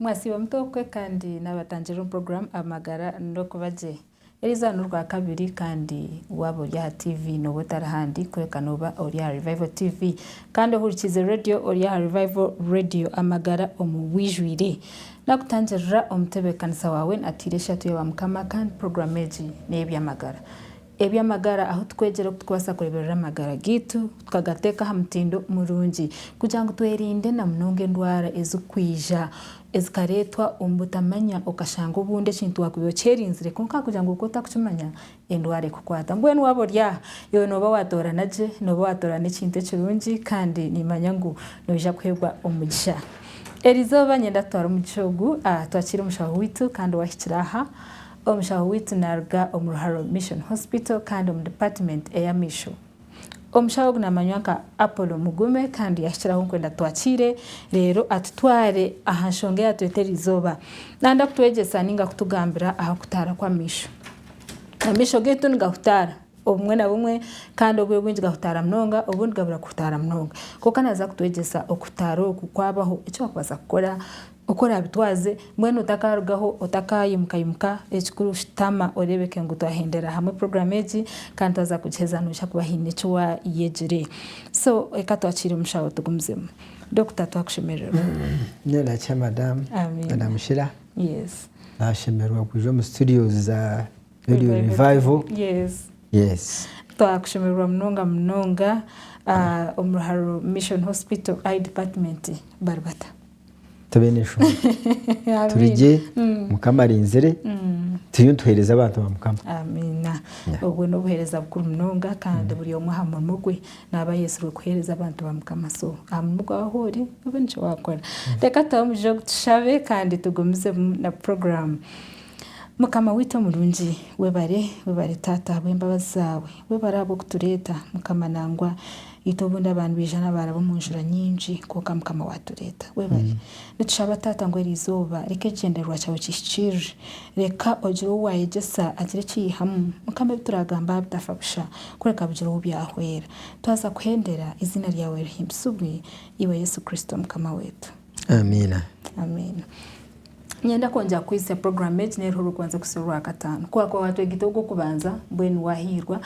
Mwasiiba muta okwe kandi naabatangirira omu puroguraamu Amagara n'Okuba Gye. Eri izooba n'Orwakabiri kandi waaba ori aha tiivi nooba otari handi kureka nooba ori aha Revival TV. Kandi ohurikiize reediyo ori aha Revival Radio Amagara omu bwijwire. Naakutangirira omutebeekanisa waawe natiira eshatu ya Baamukama kandi puroguraamu egi n'ey'eby'amagara. Eby'amagara ahu tukwegyera oku turikubaasa kureeberera amagara gaitu tukagateeka aha mutindo murungi kugira ngu twerinde na munonga endwara ezirikwija ezikareetwa omu butamanya okashanga obundi ekintu waakubaire okyerinzire kwonka ahakugira ngu oku otarikukimanya endwara ekukwata. Mbwenu waaba ori aha iwe nooba waatoorana gye, nooba waatoorana ekintu ekirungi kandi niimanya ngu noija kuheebwa omugisha. Erizooba niinyenda tutware omugisha ogu twakiire omushaho waitu kandi owaahikire aha Omushaho waitu naaruga omu Ruharo Mission Hospital kandi omu Dipatimenti ey'Amaisho. Omushaho ogu naamanywa nka Apollo Mugume kandi yahikiraho nkwe ndatwakiire reero atutware aha nshonga eyatweta eri izooba. Naayenda kutwegyesa nainga kutugambira aha kutaara kw'amaisho. Amaisho gaitu nigahutaara obumwe na bumwe kandi obwire bwingi gahutaara munonga obundi gabura kuhutaara munonga. Kwonka naaza kutwegyesa okutaara oku kwabaho, eki orikubaasa kukora. Oku oraabitwaze, mbwenu otakaarugaho, otakaayimukaimuka, ekikuru shutama oreebeke ngu twahendera hamwe puroguraamu egi kandi twaza kugiheza noija kuba haine eki waayegire. So reka twakire omushaho tugumizemu. Dokita twakushemererwa. Nyowe nakira madamu. Amiina. Madamu Shira. Yes. Nashemererwa kwija omu studios za Radio Revival. Yes. Yes. Twakushemererwa munonga munonga. Ah, omu Ruharo Mission Hospital, I department bari bata? Tube n'eshonga. Amiina. Turi gye, Mukama arinzire, turiyo nituheereza abantu ba Mukama. Amiina. Yeah. Obwo n'obuheereza bukuru munonga kandi buri omwe aha murimo gwe naaba ayetsirwe kuheereza abantu ba Mukama. So aha murimo gwawe ahu ori, obwe nikyo waakora. Reka tuhe omugisha ogu tushabe kandi tugumizemu na puroguraamu. Mukama waitu omurungi, webare, webare Taata ahabw'embabazi zaawe. Webare ahabw'okutureeta, Mukama nangwa. Itwe obundi aba nibija nabaraba omu njura nyingi kwonka mukama watureta. Webale. Nitushaba Tata ngu erizooba reka ekigyendererwa kyawe kihikirire. Reka ogire ou wayegyesa agire ekiyayihamu mukama ebituragamba aha bitafa busha kureka bigire ou byahwera. Twaza kuhendera eiziina ryawe rihimbisibwe iwe Yesu Kristo mukama wetu. Amiina. Amiina. Niinyenda kwongyera kukuhitsya puroguraamu egi n'eruho orikubanza kusya Orwakataano. Ku waakuba waatwegita ogw'okubanza, mbwenu waahiirwa.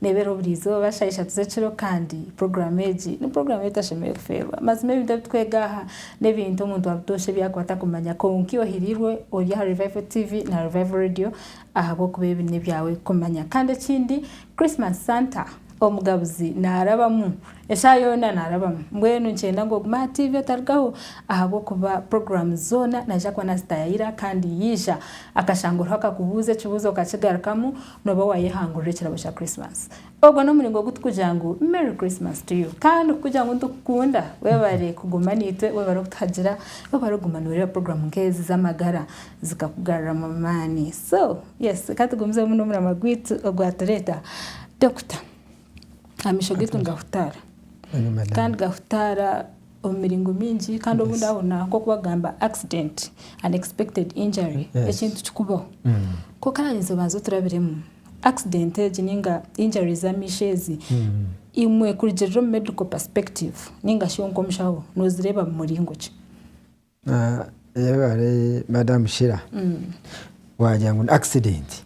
Neebera buri izooba shaaha ishatu z'ekiro kandi puroguraamu egi ni puroguraamu ei otashemereire kufeerwa. Mazima ebintu ebi twega aha n'ebintu omuntu wa butoosha ebi yaakuba atakumanya. Kwonka ohiriirwe ori aha Revival TV na Revival Radio ahabw'okuba ebi n'ebyawe kumanya. Kandi ekindi, Christmas Santa, Omugabuzi, naarabamu. Eshaaha yoona naarabamu. Mbwenu nikyenda ngu ogume aha tiivi otarugaho ahabw'okuba puroguraamu zoona naija kuba naazitaaya ira kandi yaija akashanga oriho akakubuuza ekibuuzo okakigarukamu, nooba waayehangurira ekirabo kya Krisimasi. Ogwo n'omuringo ogu turikugira ngu Merry Christmas to you! Kandi kukugira ngu nitukukunda, webare kuguma naitwe, webare kutuhagira, webare kuguma nooreeba puroguraamu nk'ezi z'amagara zikakugaruramu amaani. So, yes, ka tugumizeho muno omuramwa gwaitu ogwatureeta Dokita. amaisho gaitu nigahutaara kandi gahutaara omu miringo mingi kandi obundi aho naho nk'oku bagamba accident unexpected injury Yes. ekintu kikubaho ku karabaninze obanza oturabiremu accident egi ninga injury z'amaisho ezi imwe kurugirira omu medical perspective ninga shi nk'omushaho nozireeba mu muringo ki Madamu Shira wagira ngu ni akisidenti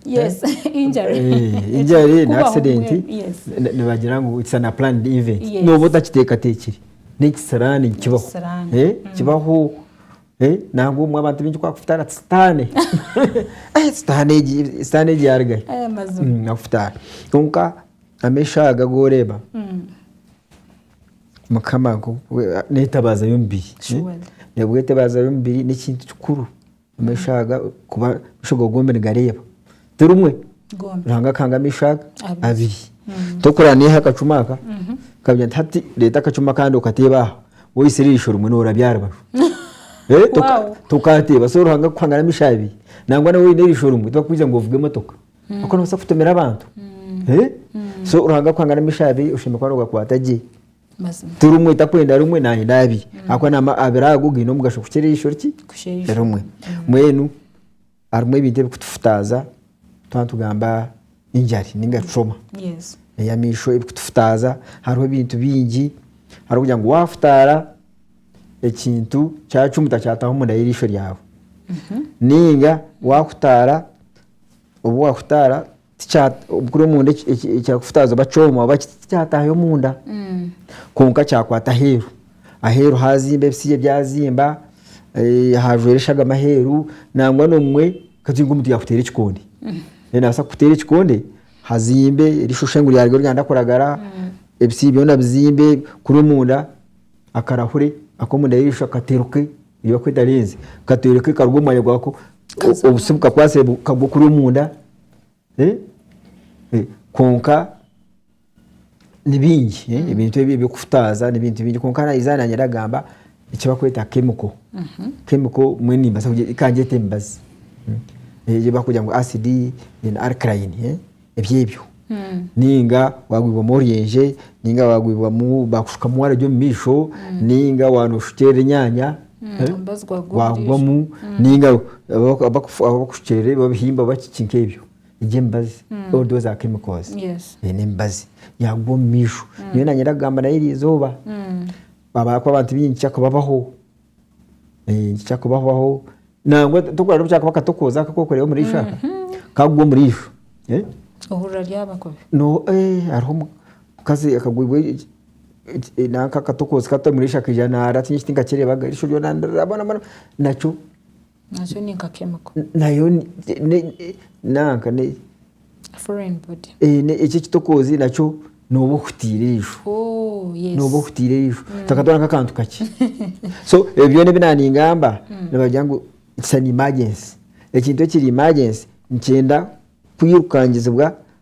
nibagira ngu it's an unplanned event nooba otakiteekateekire n'ekisiraani nikibaho kibaho nangwa obumwe abantu baingi kukufutaara ati sitaane sitaane egi yaruga hi akufutaare kwonka amaisho aga agu oreeba Mukama n'etabaza y'omubiri. Nabwo etabaza y'omubiri n'ekintu kikuru omu maisho aga kuba amaisho gaawe gombi nigareeba ti rimwe Ruhanga akahanga amaisho aga abiri. Hmm. Tokureba naiha akacuma aka mhm. kagira nti hati reeta akacuma akandi okateebe aha woitsire eisho rimwe noorabya aha rubaju. Eh, tokateeba so Ruhanga kukuhangira amaisho abiri nangwa nawe oine eisho rimwe tibakwija ngu ovuge emotoka. Kwonka nobaasa kutumira abantu. So Ruhanga akuha nka n'amaisho abiri oshemereire kuba noogakwata gye. Ti rimwe oti akwenda rimwe naayenda abiri ahabw'okuba na abiri ago gaine omugasho kukira eisho ki erimwe. Mbwenu harimu ebintu ebikutufutaaza twaba nitugamba enjari ninga trauma ey'amaisho erikutufutaaza. Hariho ebintu bingi, hariho kugira ngu waafutaara ekintu kyacumita kyataaha omunda y'eisho ryawe. Ninga waakutaara obu waahutaara buri omunda ekyakufutaaza oba kyoma oba kiti tikyataahayo omunda kwonka kyakwata aheeru. Aheeru haazimba ebisisira byazimba, haajwera eshagama aheeru nangwa n'omwe katugire ngu omuntu yaakuteera ekikonde, naabaasa kukuteera ekikonde hazimbe rishushe ngu ryaaruga ryenda kuragara, ebisisira byona bizimbe, kuri omunda akarahure ak'omunda y'eisho kateruke. Nibakweta lenzi katoirwe kekaruga omu mwanya gwako obusi bukakwasire bukagwa kuri omunda eh, eh, kwonka nibingi eh, ebintu ebi ebyokufutaaza nibintu bingi kwonka naiza nanye ndagamba ekibakweta chemical mhm. chemical mwe nimbaza kangyeta emibazi eh, eyi bakugira ngu acid then alkaline eh. eby'ebyo ninga wagwibwamu oryenje ninga wagwibwamu bakushukamu waragi omu maisho ninga waba noshukyerera enyanya wagwamu ninga abakushukyerera ebyo babihimba oba kiki nk'ebyo egyo emibazi all those are chemicals n'emibazi yagwa omu maisho nyowe nanye ndakugamba nayo erizooba ahabw'okuba abantu baingi tikyakubabaho. Eh, kyakubahobaho nangwa tokurara obu kyakuba katokoza ako kokureeba omuri isho aka kagwa omuri isho eh, ohurira ryaba kubi no eh, hariho omu- omukazi akagwibwa eki- eki- eh, nanka akatokozi kato omuri isho akaija nara tihaine eki tinkakireebaga erisho ryona ndiraba bona bona nakyo Nayo ni nka chemical. Nayo nanka ne. Foreign body. Ekyo ekitokoozi nakyo nooba ohutiire eisho. Oh, yes. Nooba ohutiire eisho. Mm. Takatwara nk'akantu kakye. So ebyo byona ebi naaningamba mm. nibagira ngu it's an emergency. Ekintu ekiri emergency nikyenda kwirukangizibwa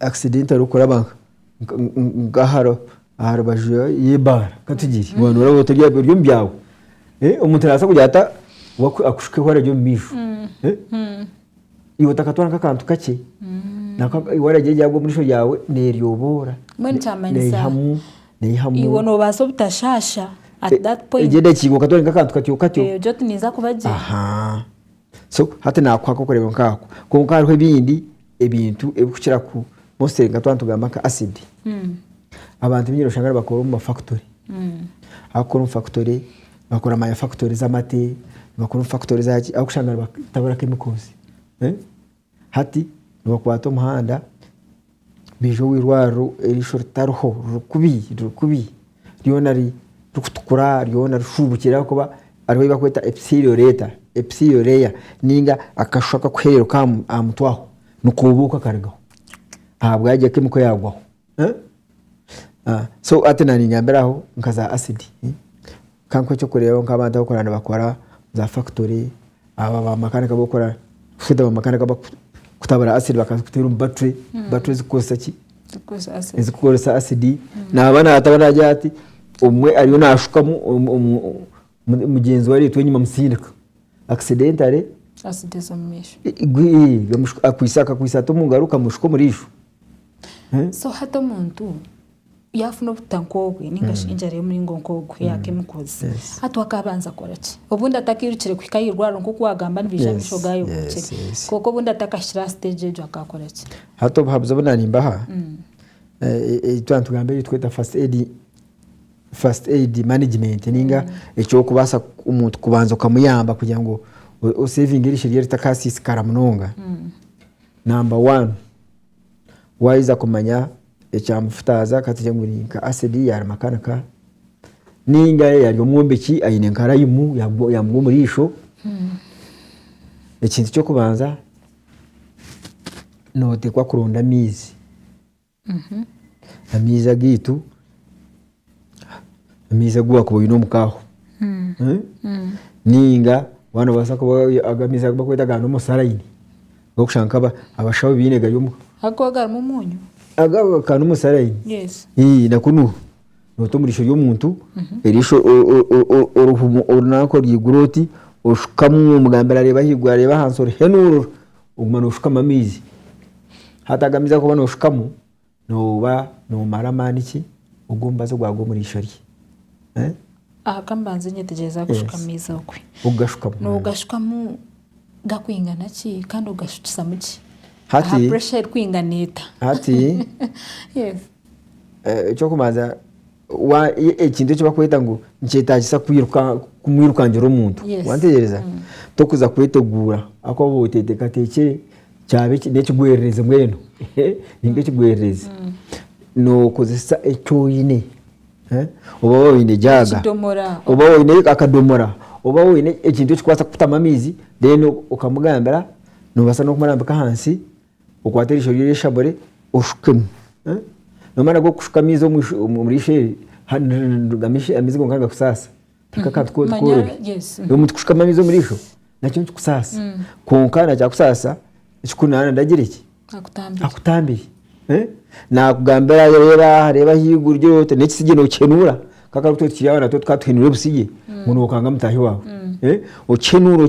accident erikuraba nka aharubaju y'eibaara katugire waaba nooba otari omu byaawe, omuntu naabaasa kugira ata akushuke waaba ori omu maisho, iwe otakatwara nk'akantu kakye, waaragira eryaabo omu maisho gaawe neeryoboora neihamu neihamu, egyo endakiika okatwara oti nk'akantu katyo katyo. So hati naakuha akokureeba nka ako. Kwonka hariho ebindi ebintu ebikukira ku mostly nka twaba nitugamba nka acid. Abantu baingi noshanga nibakora omu ma factory. Abakukora omu factory, nibakora ma factory z'amate, nibakora omu factory zaaki, ahabw'okushanga nibatabura chemicals. Hati nibakwata omuhanda baija owa irwariro erisho ritariho riri kubi riri kubi ryona ririkutukura ryona rishubukire ahakuba hariho ebi barikweta epithelial layer epithelial layer ninga akashu akakuhereruka aha mutwe aho nikobuuka karigaho ahabwaki kemiko yagwaho. So hati nanyambire aho nka za acid ka nkuhe ekyokureebaho nk'abantu abu orikureeba nibakora omu za factory abo bamakanika abu orikukora kushuusha oti bamakanika abarikutabura acid bakaziteera omu battery, battery ezirikukoresa ki ezirikukoresa acid naaba natabura nagira ati omwe ariyo naashukamu mu- mugyenzi we areetwa enyima amusindika accidentally asideza omu maisho igwe gamushuka- akwitse akakwitsa ata omu ngaro kamushuka omuriijo Eh? so hati omuntu yafuna obuta nk'obwe ningashi enjara y'omuringo nk'ogwo ya chemicals Yes. hati wakabanza akora ki obundi atakirukire kuhika ahirwaro nk'oku wagamba nibaija Yes, amaisho gaayo yes, gokire yes. kwonka obundi atakahikire aha stage egyo akakora ki hati obuhabuzi obu nanimbaha eh, eh, eh, twantugambe eri tweta first aid First aid management ninga ekyokubaasa omuntu kubanza okamuyamba kugira ngu osevinge erisho rye ritakasisikara munonga. Number one wayeza kumanya ekyamufutaza katugire ngu ni nka acid ya makanika ninga yari omwombeki ayine nka rayimu yamugwa omurisho, ekintu kyokubanza notekwa kuronda amaizi. Amaizi agaitu, amaizi agu waakuba oine omu ka ho nainga waaba noobaasa kuba aga maizi agu barikweta aga normal saline agu orikushanga nk'aba abashaho baine gari omu ka. Ago agarimu omuunyu? Aga aga normal saline, Yes. ii nako nu- noote omu riisho ry'omuntu, eriisho o- o- o- o- orihuma ori nanka oryaigura oti, oshukamu, omugambira areeba ahaiguru areeba ahansi orihenuurura. Oguma noshukamu amaizi hati aga amaizi agokuba noshukamu noba nomara amaani ki ogomubazi gwagwa omuri eishwa rye Aha kambanze nyetegyereze ahakushuka amaizi okwe nogashukamu gakwingana ki kandi ogashukisamu ki aha pressure erikwingana eta Hati ekyokubanza Wa, e- ekintu eki bakweta ngu nikyetaagisa kwiruka kumwirukangira omuntu Yes. wantegereza tokuza kweteguura ahakuba waaba oteetekateekire kyaba eki- n'ekigwererezi mbwenu ni nk'ekigwererezi nookozesa eki oine eh, oba waaba oine jaaga Ekidomora. oba waaba oine akadomora oba waaba oine ekintu ekikubaasa kukutamu amaizi then okamugambira noobaasa n'okumurambika ahansi okwate erisho rye oryeshamure oshukemu nomara kushuka amaizi omurisho eri amaizi gonka nigakusaasa tihaine akantu kona korobi omu kushukamu amaizi omurisho nakyo nikikusaasa kwonka nakyakusaasa ekikunaana ndagire ki akutambire nakugambira reeba reeba ahaiguru gye ota nekisigye nokihenuura kwonka itwe abana bato tukaba tuhenuura obusigye ngu nokanga mutaahi waawe okihenuura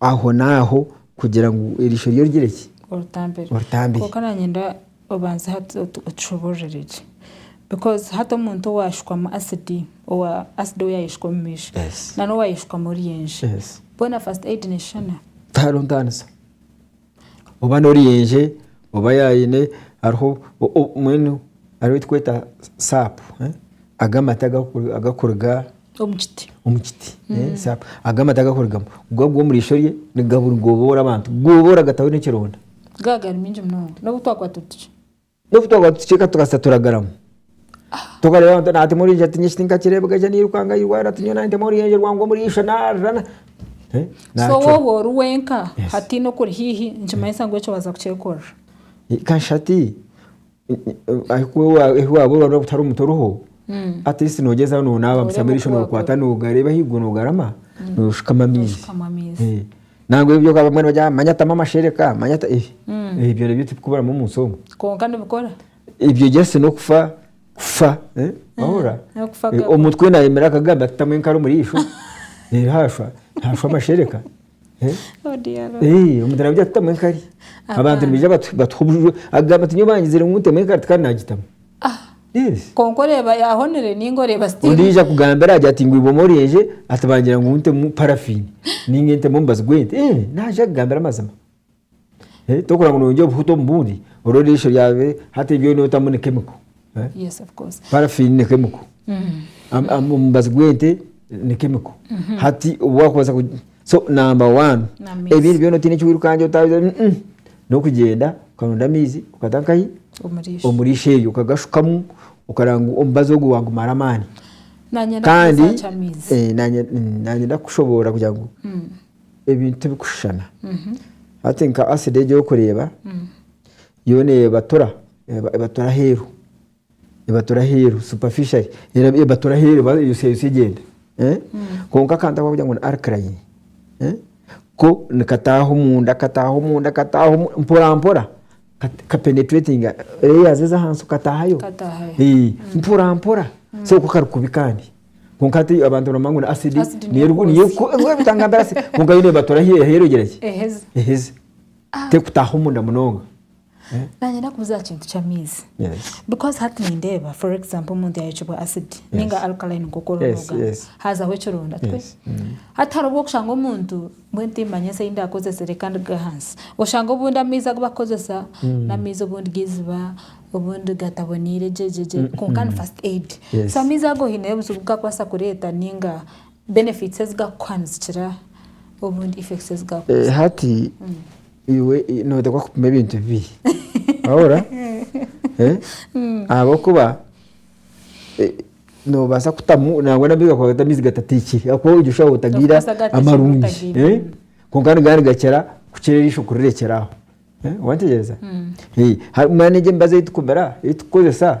ahonaaho kugira ngu eriisho rye origire ki oritambire kwonka nanyenda obanze hati otushoboororere gye because hati omuntu owaashukwamu acid owa acid ou yaayeshuka omu maisho nana owaayeshukamu oryenje boona first aid neshushana? tihariho ntaanisa. oba n'oruyenje oba yaayine hariho mbwenu hariho ei turikweta saapu ago amate agarikuruga omu kiti saapu ago amate agarikurugamu go agwa omu riisho rye nigaboora abantu gooboora gataho n'ekironda. Gaba gari maingi munonga n'obu twakwata otuki. N'obu twaba tucweka tukaasa turagaramu. Tokareeba ngu nate murije ati nyowe tinkakireebeka haza nairukanga ahu irwariro ati nyowe naanye ntema oruyenje rwange omuri isho naarira na eh, So naacwa. woba ori wenka Yes. hataine okuri haihi nikimanyisa ngu ekyo waaza kukyekorera. Eh, Kasha ati ahu wa- ahu waaba ori waaba otari omuntu oriho at least noogyezaho noonaaba Nooreeba omusyo amaiso oku waakorwo. nookwata noogareeba ahaiguru noogarama nooshukama amaizi. Nooshukama amaizi. Eh. Nangwa ebyo bamwe nibagira ngu manya tamu amashereka, manya ta eeh, eeh byona ebyo tibikuburamu omu nsi omu. Kwonka nibikora. Ebyo just n'okufa, kufa, eh, wahurira? N'okufa Eh, gabura. Omutwe naayemerera akagamba ati tamu enkaro omuri ishwa, eh, haashwa, haashwa amashereka, eh. Oh dear Lord. Eh, omuntu naagira ati tamu enkari. Abantu Abaana. nibaija batu- batuha obuju, agamba ati nyowe bangizire ngu ntemu enkari tikandi naagitamu. Ah, Yes. kwonka oreeba yahonire ninga oreeba still Ondiijo akugambira agira ati ngu eiboma oryenje ati bangira ngu ntemu paraffin ninga ntemu omubazi gw'ente. Eh, naaje akugambira amazima. Eh, tokurora ngu noyongyera obuhuta omu bundi orwo erisho ryawe hati ebi byona otamu ni chemical. Eh, Yes of course. paraffin ni chemical. Am- am- Omubazi gw'ente ni chemical. Hati obu wakubaza ku- so number one N'amaizi. ebindi byona otaine eki wirukangira otabize mm, mm. n'okugyenda okaronda amaizi okata nkahi Omuriisho. omuriisho eyo okagashukamu okareba ngu omubazi ogu wagumara amaani Nanye kandi ndakubuuza amaizi. eh, nanye mm, nanye ndakushoboorora kugira ngu ebintu tibikushushana hati nka acid egi orikureeba yoona ebatura eba- ebatura aheeru Ebatura aheeru, superficially, era ebatura aheeru eba eyosyayotsya egyenda. Kwonka akantu aku barikugira ngu ni alkaline, ko nikataaha omunda kataaha omunda kataaha omunda mporampora kapenetratinga layers ez'ahansi okataahayo mporampora seeri ku kari kubi kandi. Kwonka hati abantu nibamanya ngu ni acid niyo eri kwonka yo neebatura aheeru kugira ki? Eheze, terikutaaha omunda munonga. Nanye nakubuza aha kintu ky'amaizi. Yes. Because hati nindeeba for example omuntu yayokibwa acid ninga alkaline nk'oku oriho Yes, noga. yes. Hazaho ekironda twe. Yes. Hati hariho obwokushanga omuntu mbwenu timmanya eki eyindakozese reka ndige ahansi. Oshanga obundi amaizi agu bakukozesa n'amaizi obundi g'eiziba, obundi gataboneire gye gye gye. Konka ni first aid. Yes. So amaizi ago hineyo obuzibu obu gakubaasa kureeta ninga Benefits ezigakuha nizikira obundi effects ezigakuha. Hati iwe noteekwa kupima ebintu bibiri wahurira ahabw'okuba nobaasa kutamu nangwa nabyo gakukwata amaizi gatateikire ahabw'okuba ogira oshusha otagiire amarungi kwonka nigaba nigakira kukira eriisho kurirekyera aho wateekyereza? Mbwenu egyo emibazi ei tukumira, ei tukukozesa.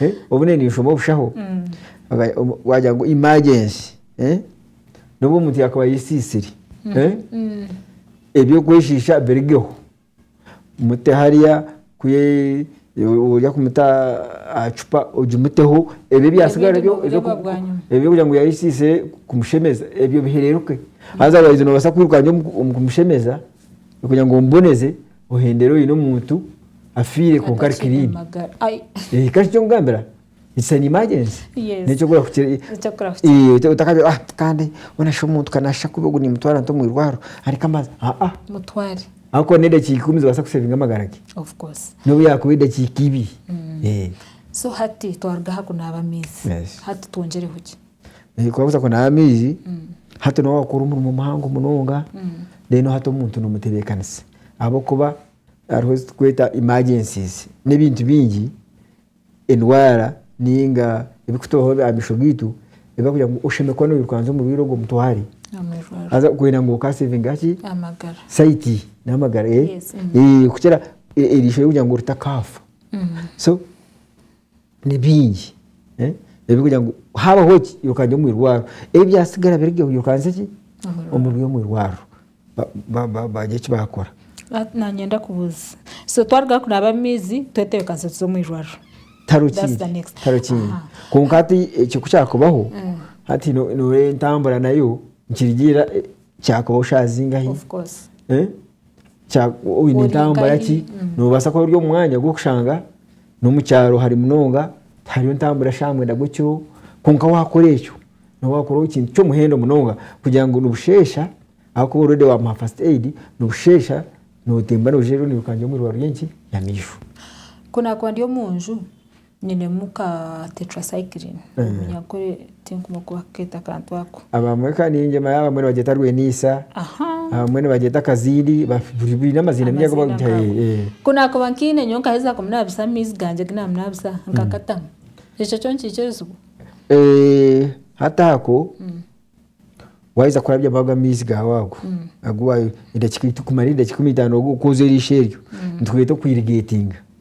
Eh, obune ninshoma obushaho Aga- omu- wagira ngu imagensi eh, n'obu omuntu yakuba ayesiisire eh, eby'okweshiisha birigeho mute hariya ku ye- orya kumuta aha cupa ogimuteho ebyo ebyasigara Ebindi byo noobireeba ebyo- bwanyima. ebyo kugira ngu yayesiisire kumushemeza ebyo bihereruke haza waija nobaasa kwiruka gye omu- omu kumushemeza kugira ngu omuboneze Ohendera oine omuntu afiire kwonka ari atakiine clean. magara Ai, Eh, kare eky'okugambira, it's an emergency. Yes. N'eky'okubura kukira- Eky'okura kukira. Eh, ota- otakagira ah kandi mbwenu shi omuntu ka naasha kubi ogu nimutwara nta omu irwaro areke amazi. Ah, ah. mutware Ahakuba n'edakiika ikumi zibaasa kusevinga amagara ge. of course N'obu yaakuba edakiika ibiri. Eh. so hati twaruga aha kunaaba amaizi Yes. hati twongyereho ki Kwabuza kunaaba amaizi, hati noba wakora omurimo muhango munonga, then hati omuntu nomutebekanisa ahabwokuba hariho ezitukweta emergencies nebintu bingi, endwara ninga ebikutubaho ahamisho gaitu ebiragira ngu oshemeriire kuba noyirukansa omurwaire ogwo omutware haza kwenda ngu oka savinge ki, site namagara kukira eriisho ryokugira ngu ritakaafa. Ni bingi ebirikugira ngu haabaho ki iruka ngye omu irwariro. Ebi byatsigara biri gye iruka nze ki omu irwariro bagira eki baakora. Nanyenda kubuuza so twaruga kunaaba amaizi twetebekanisa tuze omu irwariro? Tihariho kindi tihariho kindi. Kwonka hati eki ku kyakubaho hati nooreeba entambura nayo nikirigiirira kyakubaho shaaha zingahi? Oine entambura ki noobaasa kuba ori omu mwanya gw'okushanga. N'omu kyaro hare munonga tihariyo ntambura shaaha mwenda gw'ekiro, kwonka waakora ekyo nooba waakoraho ekintu ky'omuhendo munonga kugira ngu nibusheesha ahakuba oredi waamuha fasiti eyidi, nibusheesha nootemba noogira reero noiruka gye omu irwariro ry'enki? Ry'amaisho. Ku naakuba ndi omu nju, nyinemu ka tetracycline, Tinkumwe kuba kukeeta akantu ako. Abamwe kandi ningira ngu abamwe nibagyeta rweniisa, abamwe nibagyeta kaziiri, biine amaziina maingi agu barikugiha. Ku naakuba nkaine nyowe nkaheza kuminaabisa amaizi gangye agu naaminaabisa nkakatamu, ekyo kyo nikiija ebizibu? Hati ako, waaheza kurabyamu ago amaizi gaawe ago, kumara edakiika ikumi na itaano ku oza eriisho eryo, nikitweeta oku irigeetinga.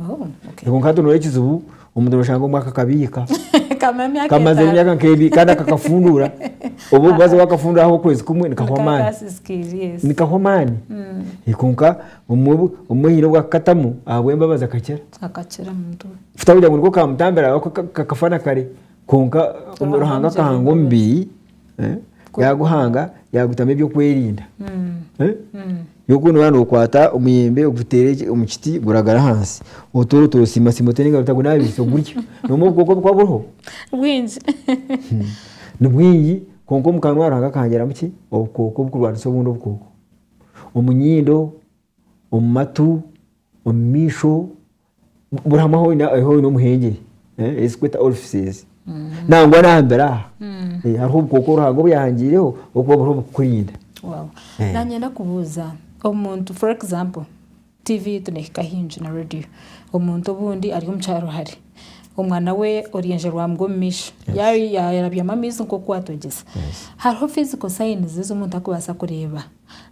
Oh, okay. Kwonka hati nooreeba ekizibu omuntu nooshanga omwe akakabiika Kamara emyaka kamaze etaano. emyaka nk'ebiri kandi akakafunduura oba omubazi waakafunduura aho okwezi kumwe nikahwa Nikaba amaani kasisikiire, yes. nikahwa amaani Mm. Eh, kwonka omwe bu- omwe haine obu akakatamu ahabw'embabazi akakira Akakira muntu we. tikugira ngu nikwo kaamutambira ahabw'okuba ka- ka- kakafa na kare kwonka Ruhanga Ruhanga amugyire akahanga embabazi. omubiri eh, yaaguhanga yaagutamu ebyokwerinda eh, yoku nooba nookwata omuyembe oguteere eki- omu kiti guragara ahansi otoora otoosiimasiima oteere engaro otagunaabisa ogurya nomu obukooko obu bukuba buriho bwingi ni bwingi kwonka omu kanwa Ruhanga akahangiramu ki obukooko obukurwanisa obundi obukooko omu nyindo omu matu omu maisho buri hamwe ahu oine omuhengere eh, ezikweta orifices nangwa nambere aha eh, hariho obukooko Ruhanga obuyahangiireho okuba buriho bukukurinda. Wow. Eh. Nanyenda kubuuza omuntu for example TV yitu nehika hingi na radio. Omuntu obundi ari omu kyaro hare. Omwana we oryenje rwamugwa omu maisho. Ya- ya- Yarabyamu amaizi nk'oku watwegyesa. Hariho physical signs ezi omuntu arikubaasa kureeba.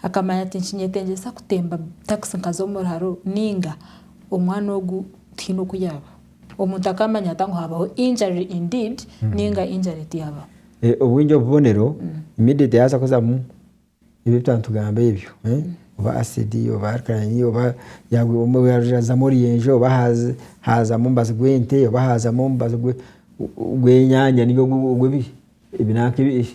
Akamanya tinkinyetengyesa kutemba takisi nkaza omu ruharo nainga omwana ogu tihaine oku yaaba. Omuntu akamanya ata ngu haabaho injury in deed nainga injury tiyaabaho? Obwingi obubonero immediate yaabaasa kuzamu ebi ebitwaba nitugamba ebyo. Oba acid oba alkaline oba yaazamu oruyenje oba haazamu omubazi gw'ente oba haazamu omubazi gw'enyanya nainga ogw'ebinanka ebindi.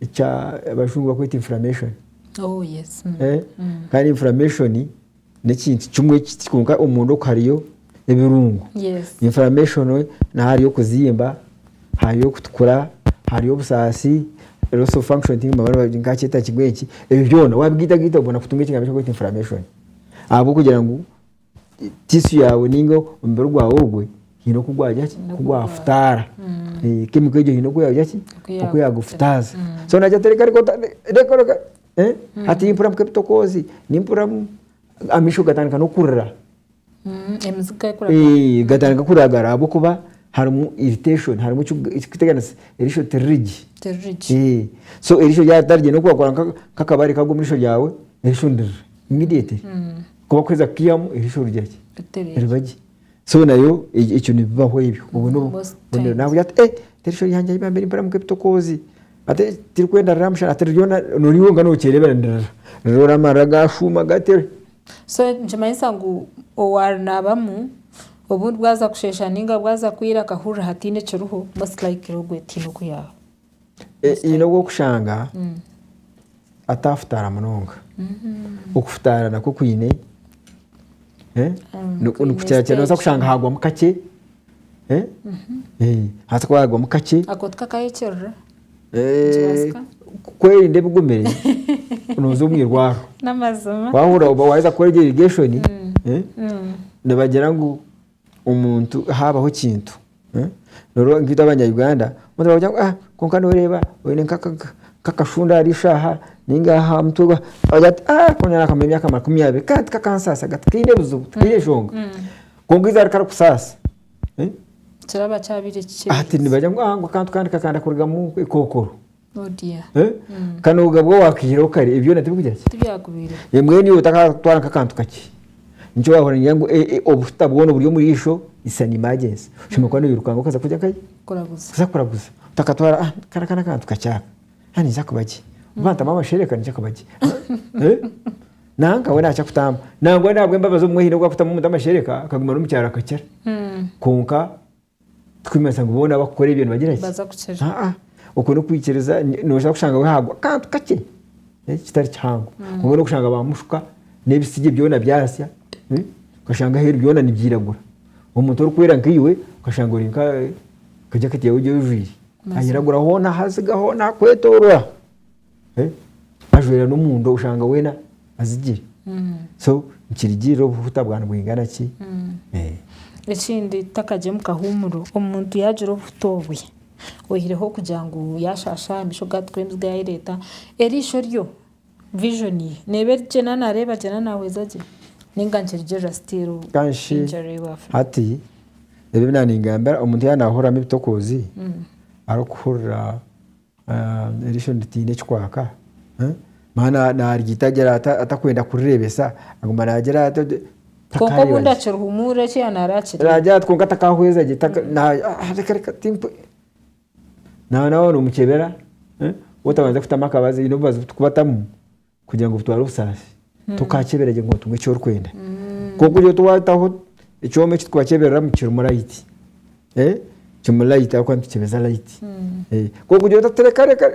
eki abajungu bakweta inflammation. Oh yes. Mm. Eh? Mm. kandi inflammation nekintu kimwe ekiti kwonka omunda oku hariyo ebirungo Yes. inflammation naho hariyo okuzimba hariyo okutukura hariyo obusaasi loss of function ti- ti- nkakyeta kigweki ebyo byona wabigaitagaita obona kutunga ekigambo ekirikwetwa inflammation ahabwokugira ngu tisu yaawe ninga omubiri gwaawe ogwe haine oku gwagira ki oku gwafutaara kemiko egyo haine oku yaagira ki oku yaagufutaaza so naagira ati reka reka reka hati mpurira nk'ebitokoozi nimpuriramu amaisho gatandika n'okurira gatandika kuragara ahabw'okuba harimu irritation harimu ekirikuteganisa erisho tiriri gye so erisho ryaba ritari gye n'oku waakora nk'akabare kaagwa omu riisho ryaawe erisho niririra immediately. Ku bakuheza kukihyamu erisho riri haki? Riba gye. So nayo ekyo nibibaho ebyo. Obwo n'obu- Most obwo ni- times. naakugira ati eh erisho ryangye ahi bambeire nimpuriramu nk'ebitokoozi. Ati eh tirikwenda rira aha mushana ati ryona nori wonka nookyereebera nirira. Rira ora amarira gaashuuma gati. So nikimanyisa ngu owarinaabamu obundi bwaza kusheesha nainga bwaza kwiira akahurira hatiine ekiriho most likely ogwo etiine oku yaaba. E- haine obu okushanga atafutaara munonga okufutaara nakwo kwine eh, ni- kwine nikukira kira noza stage. kushanga hagwamu kakye eh, eh, hati ku hagwamu kakye ako tukakayekirira eh, Nikibazika. ku- kwerinda ebigumire noza omu irwaro n'amazima wahurira oba waheza kukora egyo irrigation eh, nibagira ngu omuntu haabaho ekintu noreeba nkaitwe abanya-Uganda omuntu aragira ngu kwonka noreeba oine nk'akashunda ahari eshaaha nainga aha mutwe ogira ati konka nakamara emyaka makumi abiri kare tikakansaasa kare tikaine buzibu tikaine enshonga kwonka eizooba rikarikusaasa hati nibagira ngu akantu kandi kakanda kurugamu ekookoro. Odia. Eh? Kanoga bwo wakihireho kare ebyona tibikugira ki Tibyakubiire. Eh, mbwenu iwe otakatwara nk'akantu kakye nikyo wahurira nigira ngu eh, eh, obuhuta bwona oburi omuri isho is an emergency oshemereire kuba noyirukanga okaza kugira nkaye Kuraguza. kuza kuraguza otakatwara ah kara aka n'akantu kakye aka ah ninza kuba gye oba ntamu amashereka ninza kuba gye Ah, eh? nanka we nakya kutamu nangwa nahabw'embabazi obumwe haine obu akutamu omuntu amashereka akaguma n'omukyaro akakira Mm. kwonka Tikurikumanyisa ngu boona abarikukora ebyo nibagira ki? Nibaza kukira. Aa, okwo n'okwikiriza, nooza kushanga we hagwa akantu kakye kitari kihango. Kwonka hmm. n'okushanga ba mushuka n'ebitsigye byona byasya, hmm, okashanga aheeru byona nibyiragura. Omuntu orikwera nkaiwe okashanga ori nka eh, ka jaketi yaawe egi oijwire ayiragura hoona haziga hoona hakwetoorora. eh, ajwera n'omunda oshanga weena azigire so nikirigirira obuhuta bwa nibwingana ki Eh. ekindi tutakagye omu kahuumuro omuntu yaagira obuhuta obwe oyihireho kugira ngu yaashaasha amaisho gaatukura emiziga yaayereeta eriisho ryo vision ye neeba eri gye naaba naareeba gye naaba naahweza gye ninga nikirigirira still kanshi injury you have. hati ebi nangamba omuntu yaaba naahuriramu ebitokoozi arikuhurira Eriisho niritiina ekikwaka, maana naaryita gye atakwenda kurireebesa, aguma naagira ati oti. Kwonka obundi akirihumuurira eki yaaba nareeba kiri. Naagira ati kwonka atakahweza gye, reka reka timpwe. Nawe noomukyebera, waaba otabandize kutamu akabazi, haine obubazi obu turikubatamu. kugira ngu butware obusaasi tokakyeberagye ngu otunge eki orikwenda kwonka ori ota waataho ekyoma eki turikubakyebereramu kirimu rayiti kirimu rayiti ahabw'okuba nitukyebeza rayiti kwonka ori ota tirekareka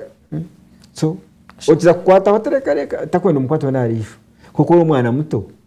so okiza kukwataho tirekareka takwenda omukwate weena ahariijo kwonka ori omwana muto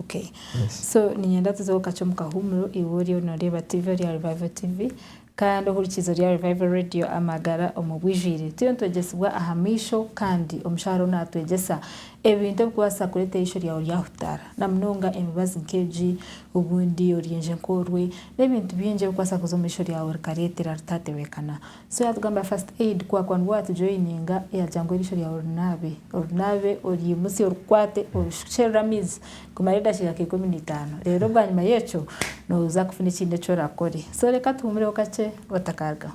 Okay so niinyenda tuzeho kakye omu kahuumuro iwe oriyo nooreeba tiivi ori aha Revival TV kandi ohurikiize ori aha Revival Radio amagara omu bwijwire. Turiyo nitwegyesibwa aha maisho kandi omushaho ariho naatwegyesa ebintu ebikubaasa kureetera eisho ryawe ryahutaara na munonga emibazi nk'egi obundi oryenje nk'orwe n'ebintu bingi ebikubaasa kuza omu isho ryawe rikareetera ritaatebeekana. So yatugambira first aid kwakwa nibwo watujoyininga yagira ngu erisho ryawe orinaabe orinaabe oryimutsye orikwate orishukyerere amaizi kumara edakiika nka ikumi naitaano reero bwanyima yekyo noza kufuna ekindi eki orakore so reka tuhumureho kakye otakarugaho.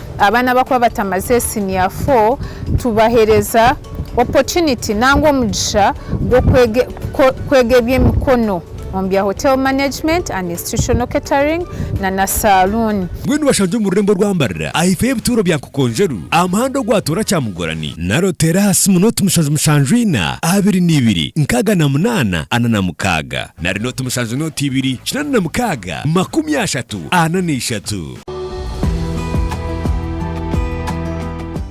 Abaana abakuba batamaze siniya fo tubahereza opotuniti nangwa omugisha gw'okwega eby'emikono omu bya Hotel Management and Institutional Catering na na Saluuni. Mbwenu bashangye omu rurembo rwa Mbarira ahaifo y'ebituuro bya Nkokonjeru aha muhanda ogwatoora Kyamugorani, naro teera aha simu nooti mushanju mushanju ina abiri na ibiri nkaaga na munaana ana na mukaaga, nari nooti mushanju nooti ibiri kinaana na mukaaga makumi ashatu ana na ishatu.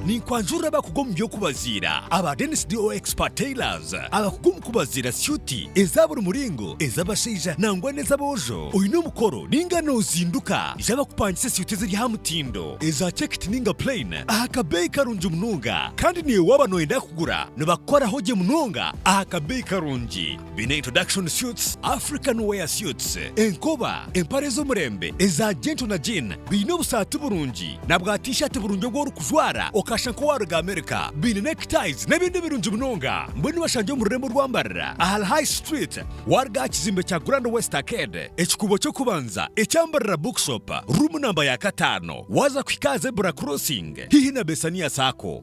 Ninkwanjurira abakugu omu by'okubaziira aba Dennis DO Expert Tailors, abakugu omu kubaziira syuti eza buri muringo, ez'abashaija nangwa n'ez'aboojo. Oine omukoro ninga nozinduka? Ija bakupangise syuti eziri aha mutindo, eza checked ninga plain aha kabeeyi karungi munonga. Kandi naiwe waaba noyenda kugura, nibakukoraho gye munonga aha kabeeyi karungi. Biine introduction suits, African wear suits, enkoba, empare z'omurembe eza gentle na jean, biine obusaati burungi na bwa t-shirt burungi obu orikujwara okashusha nk'owaaruga America, biine neckties n'ebindi birungi munonga. Mbwenu bashangye omu rurembo rw'ambarira ahari High Street waaruga aha kizimbe kya Grand West Arcade, ekikuubo ky'okubanza ekya Mbarira Bookshop, ruumu namba ya kataano waaza kuhika aha Zebra Crossing haihi na Bessania Sacco.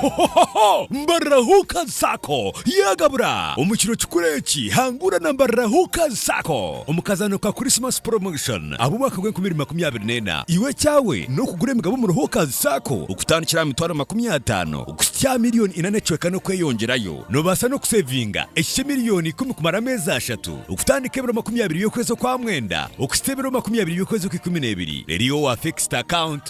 Hohohoho! Mbarira Huuka Sacco yagabura! Omu kiro kikuru eki, hangura na Mbarira Huuka Sacco omu kazaano ka Christmas Promotion ab'omwaka gw'enkumi ibiri makumi abiri n'ena. Iwe ekyawe n'okugura emigabo omuri Huuka Sacco okutandikira aha mitwaro makumi ataano kuhitsya aha milioni ina n'ekicweka n'okweyongyerayo. Noobaasa n'okuseevinga ekihikye milioni ikumi kumara ameezi ashatu, okutandika ebiro makumi abiri by'okwezi okwa mwenda okuhitsya ebiro makumi abiri by'okwezi okw'ikumi n'ebiri. Reero iwe wa Fixed Account.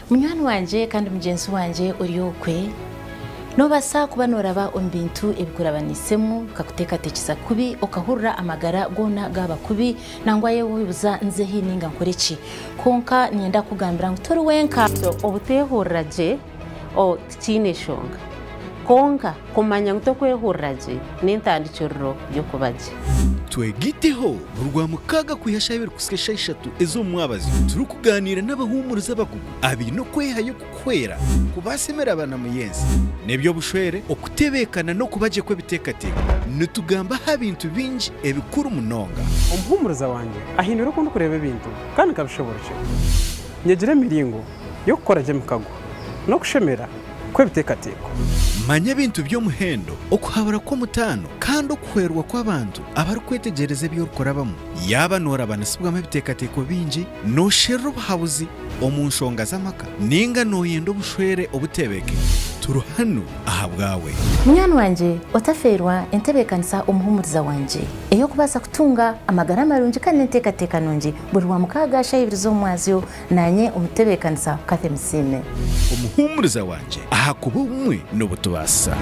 Munywani wangye kandi mugyenzi wangye ori okwe, noobaasa kuba nooraba omu bintu ebikurabaniisemu bikakuteekateekyesa kubi, okahurira amagara goona gaaba kubi, nangwa yeye oyebuza nze hi nainga nkore ki? Kwonka niinyenda kukugambira ngu tori wenka. Obuteehurira gye. Tikiine enshonga. Kwonka, kumanya ngu tokwehurira gye n'entandikiriro y'okuba gye. Twegiteho, Buri Rwamukaaga kwiha eshaaha ibiri kuhisya eshaaha ishatu ez'omu mwabazyo, turikugaaniira n'abahuumurizi abakugu abaine okwehayo kukuhwera kubaasa emiraba na muyenzi n'eby'obushwere, okutebeekana n'okuba gye kw'ebiteekateeko. Nitugamba aha bintu bingi ebikuru munonga. Omuhuumuriza wangye ahindwire oku ndikureeba ebintu kandi nkabishoboorokye. Nyegire emiringo y'okukora gye emikago n'okushemera kw'ebiteekateeko. Manya ebintu by'omuhendo, okuhabura kw'omutaano, kandi okuhwerwa kw'abantu abarikwetegyereza ebi orikurabamu. Yaaba noorabanisibwamu ebiteekateeko bingi, noosherura obuhabuzi omu nshonga z'amaka, nainga nooyenda obushwere obuteebeke, turi hanu ahabwawe. Munywani wangye, otafeerwa entebeekanisa omuhuumuriza wangye ey'okubaasa kutunga amagara marungi kandi n'enteekateeka nungi, buri Rwamukaaga shaaha ibiri z'omumwazyo, Naanye omutebeekanisa Cathy Musiime. Omuhuumuriza wangye ahakuba obumwe n'obu tubaasa.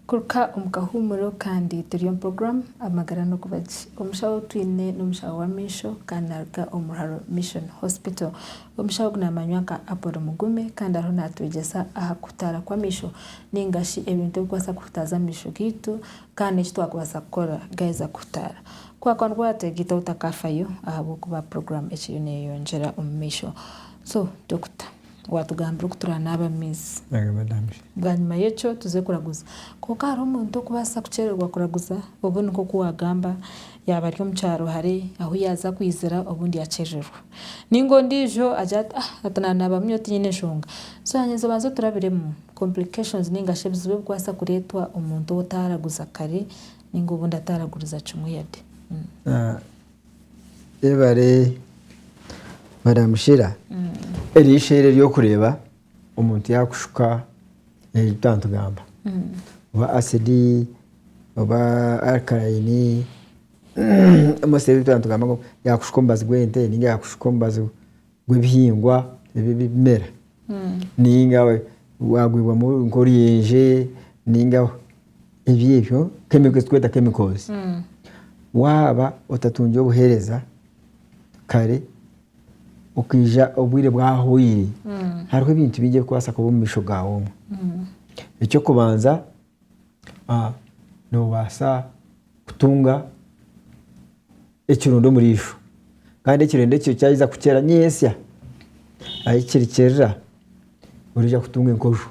Kuruka omu kahuumuro kandi turi omu puroguramu Amagara n'Okubagye. Omushaho ou twine n'omushaho w'amaisho kandi naaruga omu Ruharo Mission Hospital. Omushaho ogu naamanywa nka Apollo Mugume kandi ariho naatwegyesa aha kuhutaara kw'amaisho nainga shi ebintu ebikubaasa kuhutaaza amaisho gaitu kandi n'eki twakubaasa kukora gaaheza kuhutaara. Ku waakuba nigwateegaitaho otakaafayo ahabw'okuba puroguraamu ekiriyo neeyeyongyera omu maisho. So, Dokita, waatugambira oku turaanaaba mu maizi. Bwanyima y'ekyo tuze kuraguza. Kwonka hariho omuntu okubaasa kukyererwa kuraguza, obwo ni nk'oku waagamba yaaba ari omu kyaro hare ahu yaaza kwizira obundi yakyerererwa. Ninga ondiijo agira ati, Ah, hati naanaabamu nyowe tinyine nshonga. So hanyima tubanze turabiremu complications ninga shi ebizibu ebikubaasa kureetwa omuntu ou otaaraguza kare ninga obundi ataaraguriza kimwe yade. Yebare Madam Sheila. Eryo eishoero ery'okureeba omuntu yaakushuka ebi twaba nitugamba. Oba acid, oba alkaline. Omubazi w'ente naatugamba ngu yaakushuka omubazi gw'ente nainga yaakushuka omubazi gw'ebihingwa ebi ebimera nainga waagwibwamu nk'oruyenje nainga ebyo ebyo chemical ezi turikweta chemicals waaba otatungire obuheereza kare okaija obwire bwahwaire hariho ebintu bingi ebirikubaasa kuba omu maisho gaawe omu. Eky'okubanza noobaasa kutunga ekirundo omuriisho kandi ekirundo ekyo kyaheza kukyera nyentsya ahi kirikyerera orija kutunga enkojo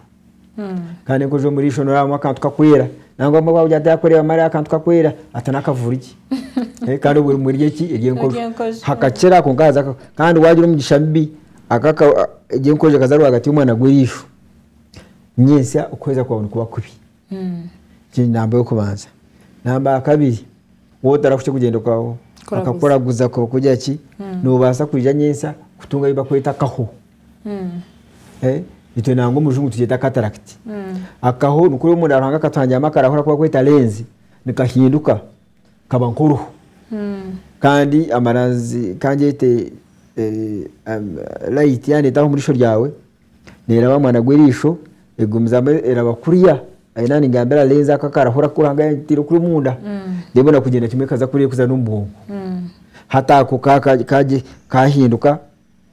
kandi enkojo omuriisho noorabamu akantu karikwera nangwa obumwe waagira ngu tarikureebamu hariho akantu karikwera ati n'akavuri gye kandi obwo obumwe eri eki eri enkojo hakakyera kwonka haza kandi waagira omugisha mubi egyo enkojo ekaza rwagati y'omwana gw'eriisho. nyentsya okuhweza kwawe nikuba kubi. Egi ni namba y'okubanza. Namba ya kabiri, waaba otarakuhitsya kugyenda kwa bakakuraguza ku barikugira ki, noobaasa kwija nyentsya kutunga ei barikweta akaho. Itwe nangwa omu rujungu tukyeta cataract. Akaho nikwo oriya omunda Ruhanga akatuhangiramu akarahu aku barikweta lens, nikahinduka kaba nk'oruhu. Kandi amaranzi ka ngyete layiti yaaneeta aho omu riisho ryawe, neraba ahamwana gw'erisho egumizamu eraba kuriya aine aha nigambira alenze ako akaraho Ruhanga yataire kuri omunda reero ebona kugyenda kimwe ekaza kuriya kuza n'omu bwongo hati ako kahinduka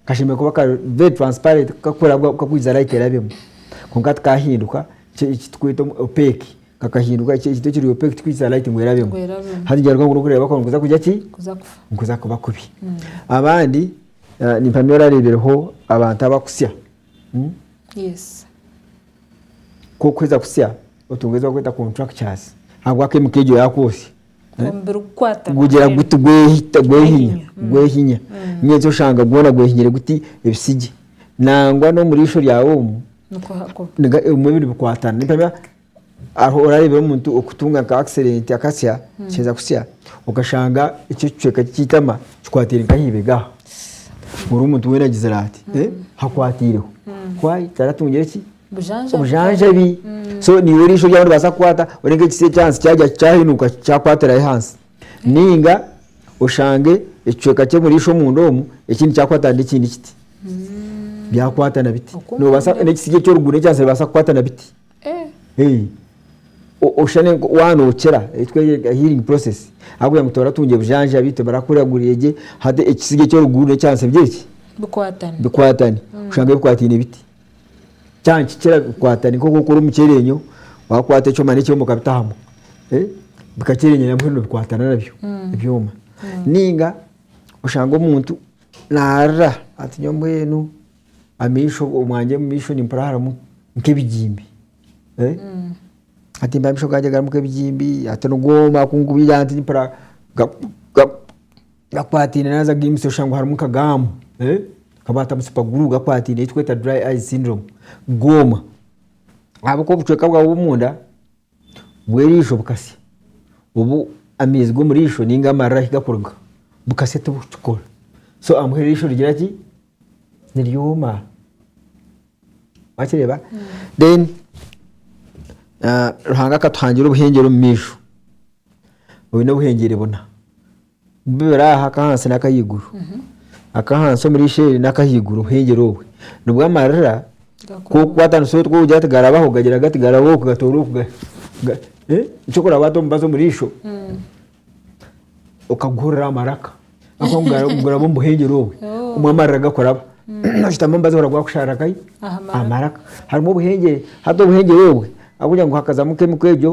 kashemereire kuba kari very transparent kakurabwamu kakwiza light erabemu kwonka hati kahinduka ekiturikweta opaque kakahinduka ekintu ekiri opaque tikikwiza light ngu erabemu hati nikibaasa kuba kubi abandi Ah, nimpamya orareebireho abantu abakusya hmm? yes ku orikuheza kusya otunga ezi barikweta contractures ahabwa akaimuka egyo yaakwotsya eh? omubiri kukwatana gugira mbwenu. guti gwehita gwehinya Gwehinya, mm. gwehinya Mm. nyenzi oshanga gwona gwehinyire guti ebisigye nangwa n'omu riisho ryawe omu nikuhakuba niga- ebimwe biri bikwatana nimpamya Aho orareebire omuntu okutunga nka akisidenti akasya, kiheza kusya, okashanga ekyo ekicweka kye ky'eitama kikwatiire nk'ahaibega aha, buri omuntu weena agizire ati hakwatiireho. Why? Taratungire ki? Obujanjabi. So naiwe oriisho ryaawe niribaasa kukwata, ori nk'ekitsya eky'ahansi kyagya kyahinuka kyakwatirayo ahansi. Nainga oshange ekicweka ky'omuriisho omunda omu ekindi kyakwatana n'ekindi kiti, byakwatana biti. Noobaasa n'ekitsi ekyo orikuguura ekyansi nibaasa kukwatana biti. Oshusha waaba nookira ekitwerire healing process ahabw'okugira ngu toratungye bujanja beitu barakuragurire gye hati ekisige ky'oruguru n'ekyahansi bigire ki? Bikwatane. Oshange bikwataine biti. Kyaba nikikira bikwatane nk'oku orikukora omukyereenyo waakwata ekyoma n'ekyoma okabita hamwe bikakyereenyera mbwenu nibikwatana nabyo ebyoma. Nainga oshange omuntu naarira ati nyowe mbwenu amaisho omwangye omu maisho nimpurira harimu nk'ebigimbi eh? hati mpurira amaisho gangye garimu nk'ebigimbi hati nigwoma kunkubiira hati mpurira ga- ga- gakwataine naaza gaimutsya oshusha ngu harimu nka gaamu eh? nkabwatamu supaguru gakwataine ei turikweta dry eyes syndrome gwoma ahabw'okuba obucweka bwawe bw'omunda bw'eriisho bukasya, obu amaizi g'omu riisho ninga amarira ahi gakuruga bukasya tibukikora. So ahamuheru eriisho rigira ki? Niryoma. Wakireeba? Then ah, Ruhanga akatuhangira obuhengyere omu maisho. Oine obuhengyere buna. Bibiri aha ak'ahansi n'ak'ahaiguru, ak'ahansi omuri Ishe-eri n'ak'ahaiguru omuhengere obwe. Nibwo amarira k'okukwatanisa otu k'okugira ati garabaho gagira gati garabaho oku gatoora oku ga ga eh nikyo ku oraabe waata omubazi omu riisho okaguhurira aha maraka ahabw'okuba ngu gara guraba omu buhengere obwe Oh. omu amarira gakuraba. Noshutama omubazi ohurira gwakusharira nkahi? Aha maraka. aha maraka. Harimu obuhengere, hati obuhengere obwe ahabw'okugira ngu hakazamu kemiko egyo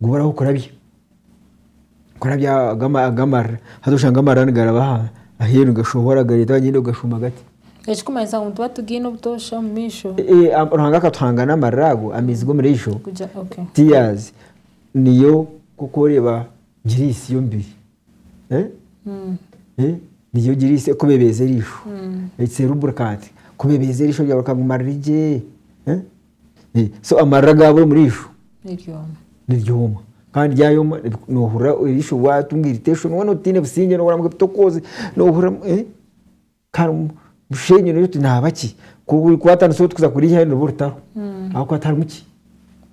Gumiraho kurabya, kurabya ago amarira. Haza oshanga amarira nigaraba aheeru nigashohora gareeta wagira ngu gashuma gati. Ekirikumanyisa ngu nituba tugaine obutoosha omu maisho. Ruhanga akatuhanga n'amarira ago, amaizi g'omu riisho, tears, niyo nk'oku oreeba giriisi y'omubiri. Niyo giriisi ekubebeeza eriisho. It's a lubricant. Ekubebeeza eriisho ryawe rikaguma riri gye. Eh, so amarira gaabura omuriisho niryoma niryoma kandi ryayoma nohurira eriisho watunga irritation weena otiine busingye nohurira ngu ebitokooze nohurira ngu eh, kare omu- omushenyi nogira oti naaba ki ku orikwatanisa oti kuza kuriihayo niruba orutaho ahabw'okuba tiharimu ki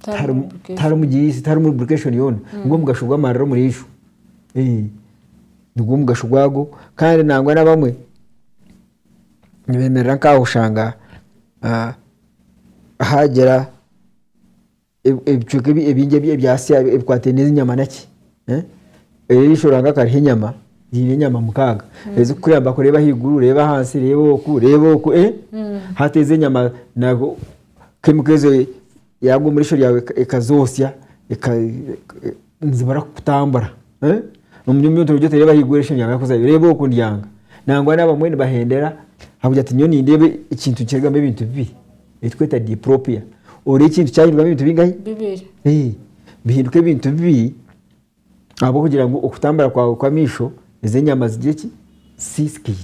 tiharimu lubrication. tiharimu gyisi tiharimu lubrication yoona nigwo mugasho gw'amarira omuriisho Eh, nigwo mugasho gwago kandi nangwa n'abamwe nibeemerera nk'aho oshanga ah, haagira ebicweka ebingi ebyasya ebikwataine n'ezi nyama naki eriisho Ruhanga akariha enyama ziine enyama mukaaga ezikukuyamba kureeba ahaiguru reeba ahansi reeba oku reeba oku hati ezo enyama kemiko ezo yaaruga omu riisho ryawe ekazotsya nizimara kukutambura omuri omuri omutima gwe otereeba ahaiguru eishe ryangye kuzaayo reeba oku ndyanga nangwa naaba abamwe nibahendera ahabw'okugira ngu nyowe nindeeba ekintu nikirugamu ebintu bibi ekiturikweta diplopia oreeba ekintu kyahindukamu ebintu bingahi? Bihinduka ebintu bibi ahabw'okugira ngu okutambura kwaawe kw'amaisho Ezo enyama ziri eki zisiisikaire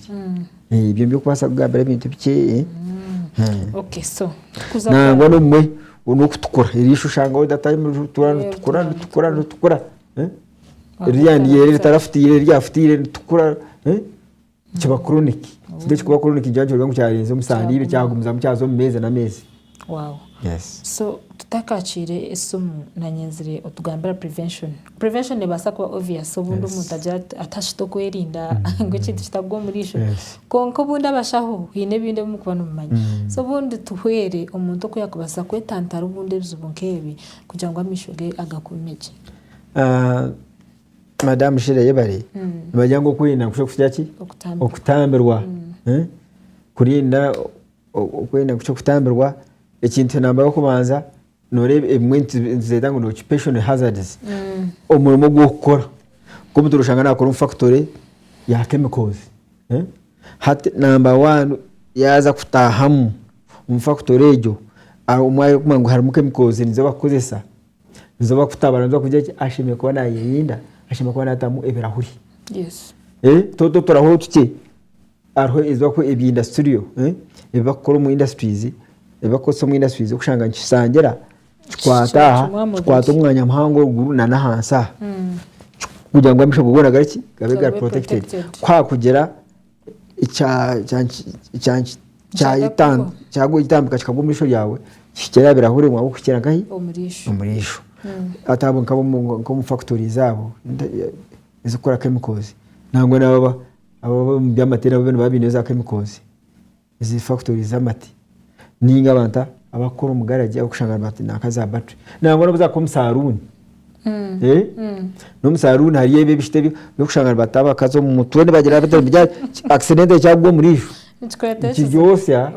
ebyo nibyo okubaasa kugambira ebintu bikye nangwa n'obumwe n'okutukura erisho oshangaho data ritukura ritukura ritukura ritukura ririya niryeera ritarafutiire eryafutaire ritukura kiba chronic ekyo ekikuba chronic nikyo orikureeba ngu kyarenze omusaandiiro kyagumizamu kyaza omu meezi n'ameezi. Wow. Yes. So tutakakiire esimu nanyenzire otugambira prevention. Prevention nebaasa kuba obvious obundi omuntu agira ati atashita okwerinda ngu ekintu kitagwa omuriisho. Kwonka obundi abashaho haine ebindi ebi mukuba nimumanya. So obundi tuhwere omuntu oku yakubaasa kwetantara obundi ebizibu nk'ebi kugira ngu amaisho ge agakuume gye. Madam Sheila yebare. Nibagira ngu okwerinda nikusha kugira ki? Okutambirwa. Okutambirwa. Kurinda Okwenda kukira kutambirwa ekintu namba y'okubanza noreeba ebimwe nituzeeta ngu occupational hazards omurimo ogu orikukora nk'omuntu noshanga nakora omu factory ya chemicals hati namba one yaza kutahamu omu factory egyo omwe arikumanya ngu harimu chemicals nizo barikukozesa nizo barikutabura nizo barikugira ki ashemereire kuba nayerinda ashemereire kuba natamu ebirahuri toto oturahuutu kye. Hariho ebi barikukoresa ebya industrial, ebi barikukora omu industries, ebi barikukoresa omu industries orikushanga nikishangira kikwata aha, kikwata omwanya muhango eruguru na n'ahansi aha kugira ngu amaisho goona gakore ki, gabe gari protected. Ku haakugira ekyagutambika kikagwa omu riisho ryawe, kihikire aha birahuri ngu habw'okugira kihikire nkahi, omu riisho. Hati abo nk'ab'omu factories abo ezikukora chemicals nangwa n'ababa. Abo ab'omu by'amateere abo boona baba baine za kemikozi ezi fakitori z'amate nainga abantu a- abakukora omu garagi ab'okushanga nibata nanka za baturi nangwa n'obu zaakuba omu saruuni eh, n'omu saruuni hariyo ebi ebishita ebi ebyokushanga nibata abakazi omu mutwe nibagira bata nibigira ati, ki- akisidenti ekyakugwa omuriijo. Nikiryotsya.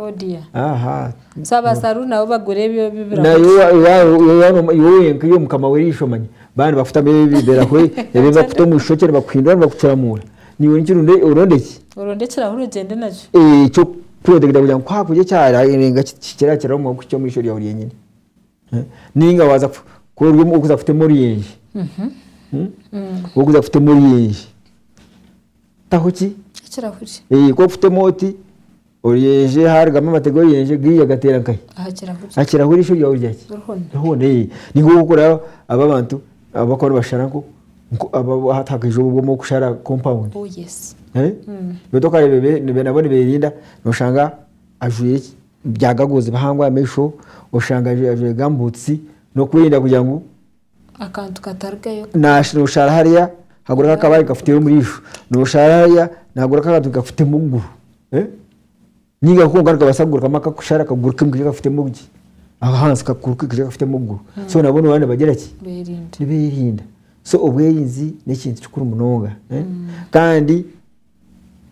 Iwe wenka iwe mukama w'erisho omanya baaba nibakutamu ebirahuri ebi bakuta omu ishokye nibakuhindura nibakukiramuura. Naiwe nikiri oronda eki? Oronda ekirahuri ogyende nakyo. Eky'okukureeterera kugira ngu ku haakuhika ekyarenga kikira kiraho omuka kuhikya omu isho ryawe ryenyine. Nainga waaza ku ori ow'okuza kutema oruyenje, ow'okuza kutema oruyenje. taho ki ekirahuri ee ku orikutema oti oruyenje haarugamu amate g'oruyenje gaihi agateera nkahi aha kirahuri aha kirahuri eisho ryawe rya ki rihona rihona ee niho orikuraaba aba abantu abakuba nibashara nko nko aba- hati hakaija obwo obumwe okushara compound oh yes Eh? Mm. beitu okareeba ebe- nibe- nabo niberinda noshanga ajwaire ki bya gagozi bihango aha maisho oshanga ajwaire ajwaire gambutusi n'okwerinda kugira ngu akantu katarugayo. Naashi nooshara hariya haguru akakabare nikakutera omu riisho, nooshara hariya nihaguru akantu nikakutema okuguru eh, nainga konka nikabaasa kugurukamu akakushara kaguruke kaije kakuteme omu ki, ahansi kaguruke kaije kakuteme okuguru so nabwo nooba nibagira ki, nibeerinda. So obwerinzi n'ekintu kikuru munonga kandi.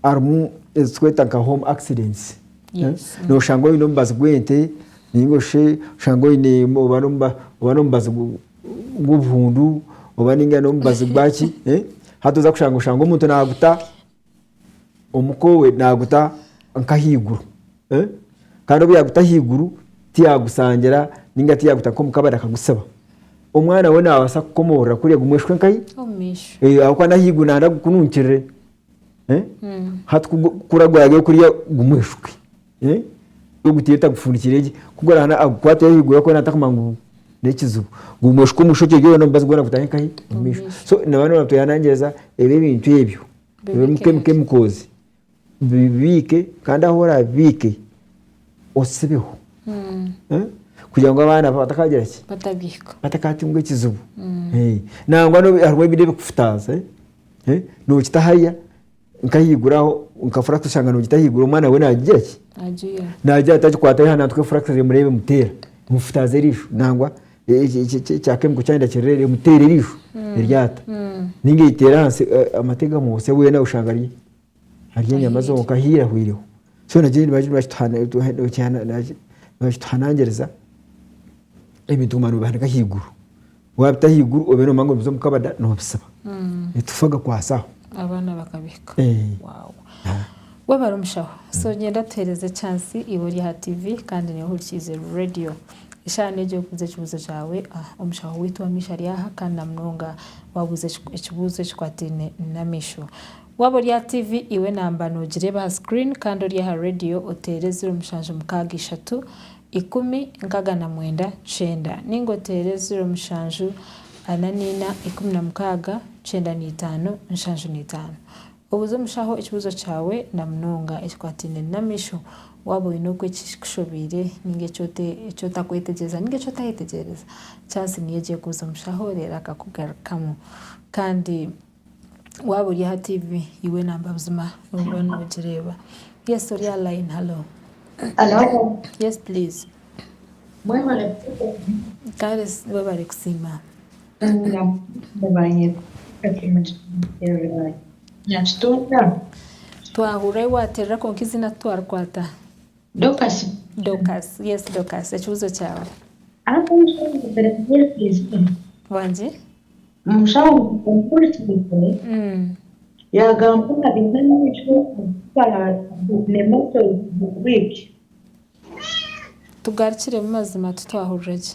harimu ezi tukweta nka home accidents Yes. Eh, noshanga oine omubazi gw'ente ninga oshe oshanga oine oba n'omuba- oba n'omubazi gu- gw'obuhundu oba ninga n'omubazi gwaki eh, hati oza kushanga oshanga omuntu naguta omuka owe naguta nk'ahaiguru Kandi obu yaaguta ahaiguru tiyaagusangira nainga tiyaaguta nk'omu kabari akagutsiba. Omwana we naabaasa kukomoorora kuriya gumweshuke nkahi? Ahabw'okuba n'ahaiguru naaba nagira ngu gukununkirire. Hati ku guragwayo kuriya gumweshuke. Ogutaire otagufundikiire gye. Ku guraabe naagukwateyo ahaiguru arikuba naatakumanya ngu n'ekizibu. Gumweshuke omushokye gye weena omubazi gwona gutahe nkahi? Omu maisho. So nabyo nooba noobateeranangiriza ebi ebintu ebyo, emikoozi. bibiike kandi ahu orabibiike osibeho Eh? kugira ngu abaana bawe batakagira ki batabihika batakatunga ekizibu Eh, nangwa n'obu- harimu ebindi ebikufutaaza eh? Eh, nokita hariya nkahaiguru aho nka furax oshanga nogita ahaiguru omwana we nagigira ki agira nagira ati agikwate aha nantuka efurax reero emureeba emuteera emufutaaza eriisho nangwa ekyakemiko kyayenda kirereere omuteera erisho eryata ninga eriteera ahansi amate gamubutsya weena oshanga ari ari enyama zonka ahiire ahwireho so nikyo nibakituhanangiriza ebintu kuguma nobihanika ahaiguru wabita ahaiguru obiire nomanya ngu nibiza omu kabada nobisiba nitufa gakwaasa aho abaana bakabihika webare omushaho so gyenda tuheereze echaansi iwe ori aha tiivi kandi nyowe hurikiize reediyo. Isha negyire kubuuza ekibuuzo kyawe. Omushaho waitu ow'amaisho ari aha kandi na munonga waabuuza ekibuuzo ekikwataine n'amaisho. Waaba ori aha TV, iwe naamba noogireeba aha screen kandi ori aha radio oteere ziro mushanju mukaaga ishatu ikumi nkaaga na mwenda kyenda nainga oteere ziro mushanju ana naina ikumi na mukaaga kyenda na itaano nshanju na itaano. Obuze omushaho ekibuuzo kyawe na munonga ekikwataine n'amaisho. Waaba oine oku ekikushobeire ninga eki otakwetegyereza ninga eki otayetegyereza, chansi niyo gye kubuuza omushaho reero akakugarukamu. Kandi waaba ori aha tiivi, iwe namba buzima nooba noogireeba. Yes, ori aha layini. Halo. Halo. Yes please. Mwebare kuteera. Kare webare kusiima. Twahurira ahu waterera kwonka eizina titwarikwata. Tugarukiremu mazima titwahurira gye.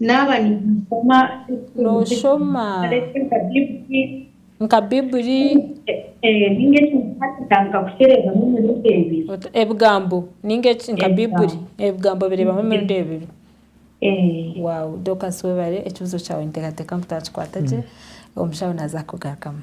Naaba ninsoma Nooshoma nka Bibuli? Ninga eki nkaatandika nkakusherezamu emirundi ebiri. Ebigambo, ninga eki nka Bibuli? Ebigambo bireebamu emirundi ebiri. Wow! Dorcus webare ekibuzo kyawe ninteekateeka ngu twakikwata gye, omushaho naaza kukugarukamu.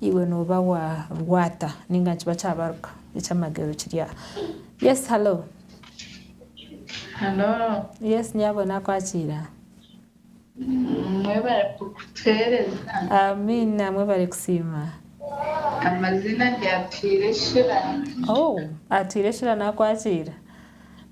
Iwe noba wa rwata ninga nikiba kyabaruka ekyamagero kiri aha yes hallo. Hallo. Yes nyabona akwakiira. Mwebare kutuhereza. Amiina mwebare kusiima. Amazina ndi Atwire Shira. Oh Atwire Shira nakwakiira.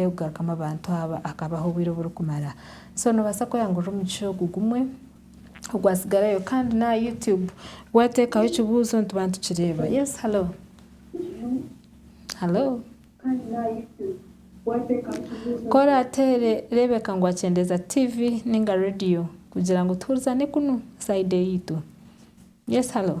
Kugarukamu abantu aba akabaha obwire oburikumara. So nobaasa kweyangurira omugisha ogu gumwe ogwatsigarayo kandi n'aha YouTube wateekaho ekibuuzo nituba nitukireeba. Yes hello? Hello? Ku oraateere reebeka ngu wakyendeeza TV ninga radio kugira ngu tuhurizane kunu side eyaitu. Yes hello?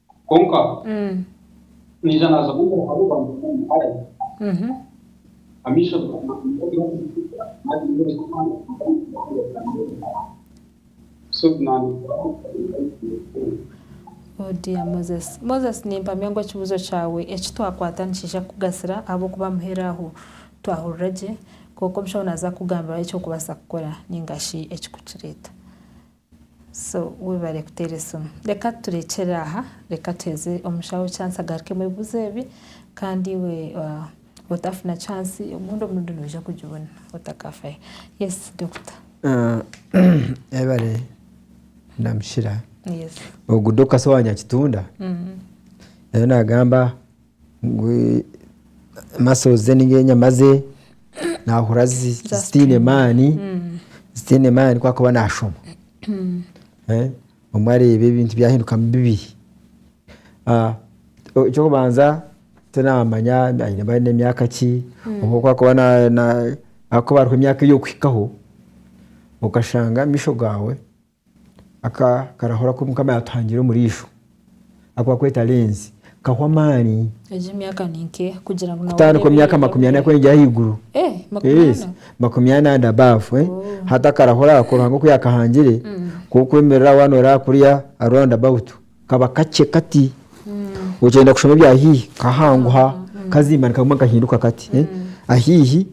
Kwonka naija naaza omu mbeera hariho abantu baingi barabizire amaisho gaabo nibagira kuzikiza naagira ngu Ruhanga taranyetenga so naanyetenga Oh dear Moses. Moses nimpamya ngu ekibuuzo kyawe eki twakwata nikiija kukugasira ahabw'okuba muheru aho twahurira gye kwonka omushaho naaza kukugambira eky'okubaasa kukora nainga shi ekikukireeta. So webare kuteera esimu. Reka turekyere aha, reka tuheeze omushaho chance agarukemu ebibuzo ebi kandi iwe otafuna chance obundi omurundi noija kugibona otakafayo. Yes Doctor. Ebare Namushira. Yes. Ogu Doctor si owa Nyakitunda? Ariyo nagamba. muscles ze ninga enyama ze nahurira zitiine maani zitiine maani ku arikuba nashoma obumwe areeba ebintu byahindukamu bibi. Ekyokubanza tinamanya aine nemyaka ki, obumwe ku arikuba ahabwokuba hariho emyaka eyi orikuhikaho okashanga amaisho gaawe Aka karahura ku Mukama yaatuhangire omuriisho aku barikweta lenzi kahu amaani. Egi emyaka ni nkeha kugira ngu nawe Kutandika omu oreebe myaka makumi ana kweyongyera ahaiguru. Eh, makumi Yes, ana? makumi ana and above, eh. Oh. Hati akarahura ako Ruhanga oku yaakahangire, ku orikwemerera aho waanooraba aha kuriya aha round about, kaba kakye kati. Okyenda kushoma ebya haihi, kahanguha, kazimbana kaguma nikahinduka kati. Ahaihi.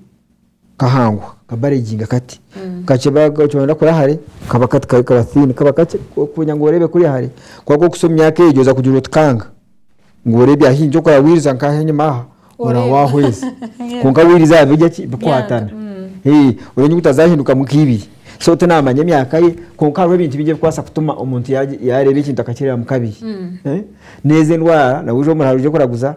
kahanguha kabareginga kati kakye kyoyenda kura hare kaba kati kari kaba thin kaba kakye kwija ngu orebe kuriya hare kwonka ku okusa omu myaka egyo oza kugira oti kanga ngu orebye ahi nikyo kora wiriza nka ahi enyima aha ora Oreba. wahweza Yeah. kwonka wiriza aha birya ki bikwatana Eeh, oreebe ngu tazahindukamu nka ibiri so tinamanya emyaka ye kwonka hariho ebintu bingi ebikubaasa kutuma omuntu yagye yareba ekintu akakirebamu kabiri Eh, nezi endwara nawe oze omuraro oze kuraguza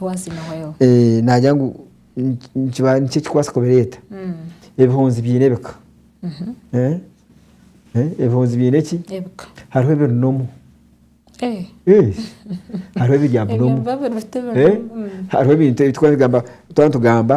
Once in a while. Eh, nagira ngu niki- nikiba niki ekikubaasa kubireeta Mm. ebihunzi biine ebika Mhm. Eh? Eh, ebihunzi biine ki Ebika. hariho ebirinomu Eh. Eh, hariho ebirya Ebyo bunomu biba biruta Eh, ebintu. Mm. hariho ebintu ebi twaba nitugamba twaba nitugamba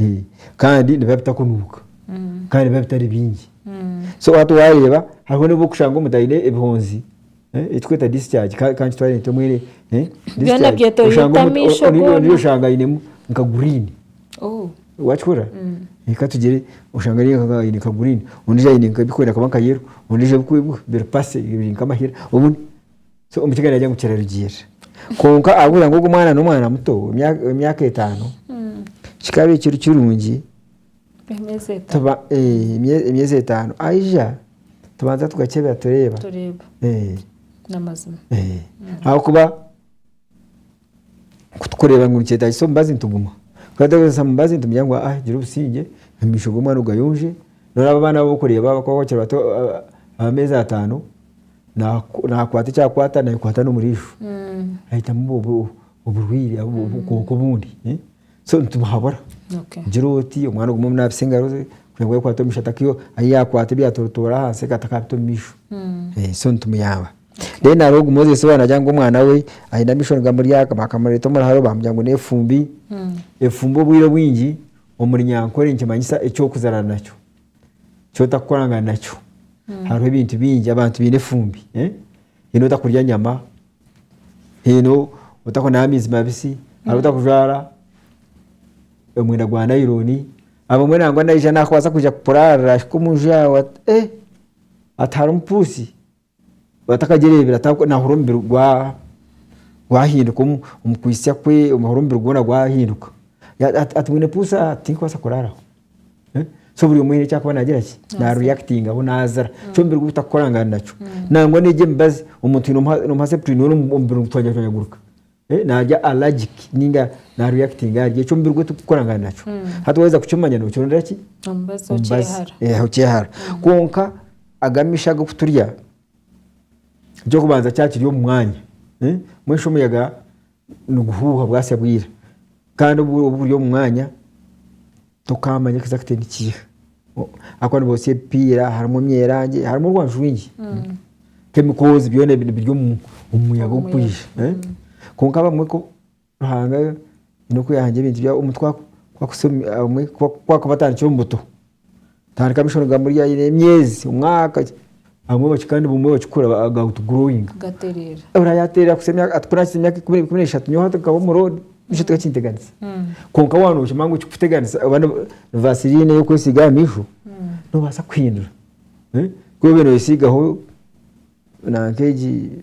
Eh, kandi nibiba bitakunuuka kandi nibiba bitari bingi so hati waareeba hariho n'obu orikushanga omuntu aine ebihonzi eh, ekitweta discharge ka- kankitware nti omwe eh, discharge. Byona byetooroire Oshanga omuntu- amaisho o- o- ondiijo- ondiijo goona. oshanga ainemu nka guriini Oh. wakikora reka tugire oshanga ari nka- aine nka guriini ondiijo aine nka ebirikwenda kuba nka yero ondiijo ebikwe- biri pasi biri nk'amahera obundi So omukiga nagira ngu kirarugiirira. Kwonka ahabw'okugira ngu ogu omwana n'omwana muto w'emyaka etaano, kikaba ekiri kirungi emyezi etaano aija tubanza tugakyebera tureeba. Ahabw'okuba Ku turikureeba ngu nikyetaagisa omubazi nituguma. Ku tutagyetaagisa mubazi nitugira ngu aa gira obusingye, amaisho g'omwana ogayonje. Noreeba abo abaana abu orikureeba abakuba bakiri bato ab'ameezi ataano, naakwata eki akwata naayekwata n'omuriisho. Ahitamu oburwaire obu, obukooko obundi. So nitubuhabura. Gira oti, omwana ogume omunaabise engaro ze, kugira ngu ayekwate omu maisho, atakaiha omu, ahi yaakwata ebyatorotoora ahansi akaba atakabita omu maisho. So nitumuyamba. Then hariho ogu Moses we nagira ngu omwana we aine amaisho nigamuryaka bakamureeta omu ruharo bamugira ngu n'efumbi, efumbi obwire obwingi omuri nyankore nikimanyisa eky'okuzarwa nakyo, eky'otakukorangana nakyo. Hariho ebintu bingi abantu baine efumbi. Haine otakurya nyama, haine otakunaba amaizi mabisi, hariho otakujwara omwenda gwa nayironi, abamwe nangwa naija nakubaasa kwija kukuraarira ahika omu nju yaawe ati eeh ati harimu puusi. Atakagyereebire ata- naahurira omubiri gwa- gwahinduka omu- omukwitsya kwe, naahurira omubiri gwoona gwahinduka. Ya- ya- ati bwine puusa tinkubaasa kuraaraho. So buri omwe haine eki arikuba naagira ki, na reactingaho naazira eki omubiri gwe gutakukorangana nakyo. Nangwa n'egi emibazi, omuntu twine omu- omu heart twine omubiri nigutwanyaguruka. Naarya allergic ninga na reactinga ahari eki omubiri gwe turikukorangana nakyo. Hati waaheza kukimanya nookirondera ki? Omubazi omubazi okyehara. Kwonka aga amiisho agu okuturya, eky'okubanza kyakiri omu mwanya, mbwenu shi omuyaga niguhuuha bwasya bwira. Kandi obu guri omu mwanya Tokaamanya ekiza kute nikiiha. Ahakuba nibotsya ebipiira, harimu emyerangi, harimu orwanju rwingi. Mm. Kemikoozi byona ebi biri omu omu muyaga ogukwija. Eh? Kwonka abamwe ku Ruhanga aine oku yahangira ebintu byabo, omuntu ku aku- ku akuhitsya omu- abamwe ku- ku akubatandikira omu buto, tandika ab'eishomeero kugamba ori aine emyezi, omwaka ki. Abamwe baki kandi bumwe bakikora ba- ga outgrowing. gatereera Ora yateerera kuhitsya emyaka ati kunaahitsya emyaka ikumi ikumi n'eshatu nyowe hati nkaba omu road nikyo tikakinteganisa. Kwonka waaba nookimanya ngu ekikuteganisa oba ni ni vaseline ey'okwesiiga aha maisho noobaasa kuhindura. Eh, ku obe nooyesiigaho nanka egi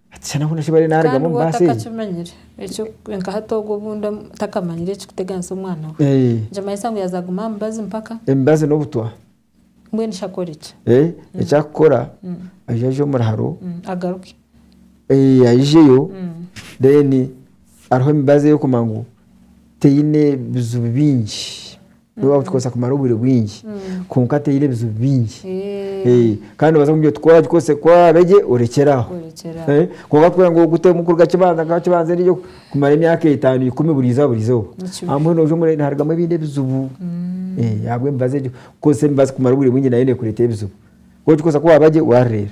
Ekishushani ahoona eki bariyo nibarugamu omu baasi egi. Kandi nka hati ogwo obundi otakamanyire ekirikuteganisa omwana we. Nikimanyisa ngu yaaza kuguma aha mibazi mpaka. Emibazi n'obutwa. Mbwenu shi akore ki? Eki arikukora, aija aje omuri haro. Agaruke. Aijeyo then aruhe emibazi eyo kumanya ngu teine bizibu bingi. N'obu wakugikozesa kumara obwire bwingi kwonka teine ebizibu bingi kandi nobaasa kumugambira oti ku wagikozesa ku waabe gye orekyere aho. Kwonka kugira ngu ogutemu kuruga kibanza mpaka kibanza endiijo kumara emyaka etaano, ikumi buri izooba buri izooba ahabw'okuba nooza omurembe niharugamu ebindi ebizibu ahabw'emibazi egyo. Kukozesa emibazi kumara obwire bwingi nayo neekureetera ebizibu. Ku ogikozesa ku waabe gye waarureeba.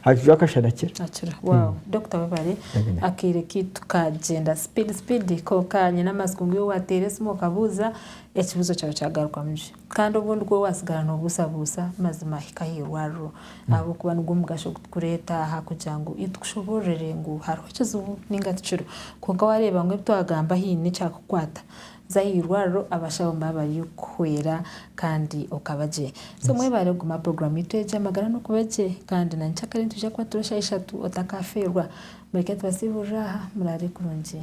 Hakijwa akashana kira. Akira. Wow. Dokita webare. Amina. Akaire kaitu kagyenda speed speed konka nyine amatsiko ngu iwe wateera esimu okabuuza ekibuuzo kyawe kyagarukamu gye. Kandi obundi ku waatsigara noobuusabuusa mazima hika aha irwariro ahabw'okuba nigwo mugasho ogu turikureeta aha kugira ngu tukushoboororere ngu hariho ekizibu nainga tikiriho. Konka waareeba ngu ebi twagamba haine ekyakukwata, Za aha irwariro abashaho nibo abari kukuhwera kandi okaba gye. So mwebare kuguma aha puroguramu yaitu egi Amagara Nokube Gye kandi na nyikyakare nitwija kuba turi eshaaha ishatu otakafeerwa. Mureke tubasiiburire aha, muraare kurungi.